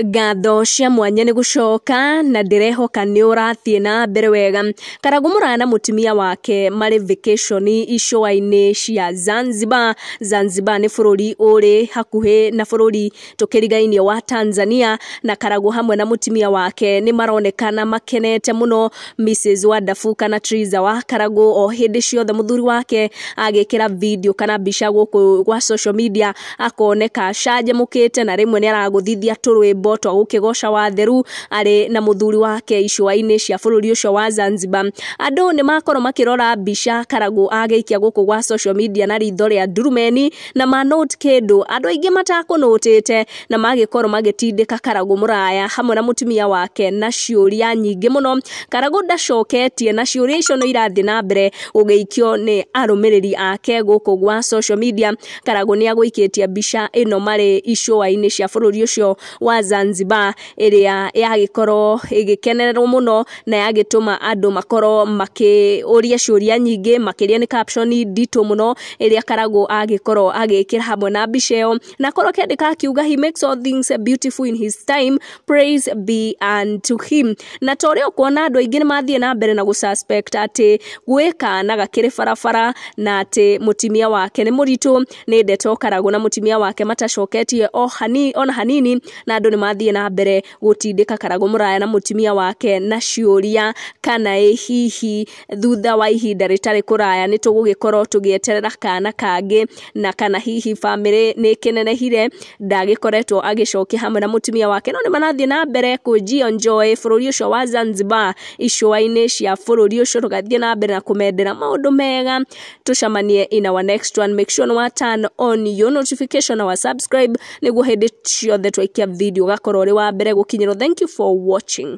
ngatho cia mwanya nĩ gũcoka na ndĩrehoka nĩ ũrathiĩ na mbere wega karagũ mũraya na mũtumia wake marĩ vacation icũa-inĩ cia zanzibar zanzibar nĩ bũrũri ũrĩ hakuhĩ na bũrũri tũkĩrigainie wa tanzania na karagũ hamwe na mũtumia wake nĩ maronekana makenete mũno Mrs Wonderful kana Triza wa Karagũ o hĩndĩ ciothe mũthuri wake agĩkĩra video kana mbica gũkũ gwa social media akoneka acanjamũkĩte na rĩmwe nĩ aragũthithia tũrwĩmbo twa gũkĩgoca watheru arĩ na mũthuri wake icũa-inĩ cia bũrũri ũcio wa Zanzibar. Andũ nĩ makorwo makĩrora mbica Karagũ agĩikia gũkũ gwa social media na ritho rĩa ndurumeni na ma note kĩndũ andũ aingĩ matakũnũtĩte na magĩkorwo magĩtindĩka Karagũ mũraya hamwe na mũtumia wake na ciũria nyingĩ mũno. Karagũ ndacoketie na ciũria icio no irathiĩ na mbere gũgĩikio nĩ arũmĩrĩri ake gũkũ gwa social media. Karagũ nĩ agũikĩtie mbica ĩno marĩ icũa-inĩ cia bũrũri ũcio wa Zanzibar ĩrĩa yagĩkorwo ĩgĩkenererwo mũno na yagĩtũma andũ makorwo makĩũria ciũria nyingĩ makĩria nĩ caption nditũ mũno ĩrĩa Karagũ agĩkorwo agĩkĩra hamwe na mbica ĩyo. na korwo kĩndĩ kakiuga he makes all things beautiful in his time praise be unto him na ta ũrĩa ũkuona andũ aingĩ nĩ mathiĩ na mbere na gũsuspect atĩ gwĩ kana gakĩrĩ barabara na atĩ mũtumia wake nĩ mũritũ nĩ ndeto karagũ na mũtumia wake matacoketie o hanini ona hanini na andũ nĩ mathiĩ na mbere gũtindĩka karagũ mũraya na mũtumia wake na ciũria kana ĩ hihi thutha wa ihinda rĩtarĩ kũraya nĩ tũgũgĩkorwo tũgĩeterera kana kangĩ na kana hihi bamĩrĩ nĩ ĩkĩnenehire ndagĩkoretwo agĩcokia hamwe na mũtumia wake no nĩ marathiĩ na mbere kũnjio njoĩ bũrũri ũcio wa Zanzibar icũa-inĩ cia bũrũri ũcio tũgathiĩ na mbere na kũmendera maũndũ mega tũcamanie in our next one make sure nĩ wa turn on your notification na wa subscribe nĩguo hĩndĩ ciothe twaikia video ũgakorwo ũrĩ wa mbere gũkinyĩrwo thank you for watching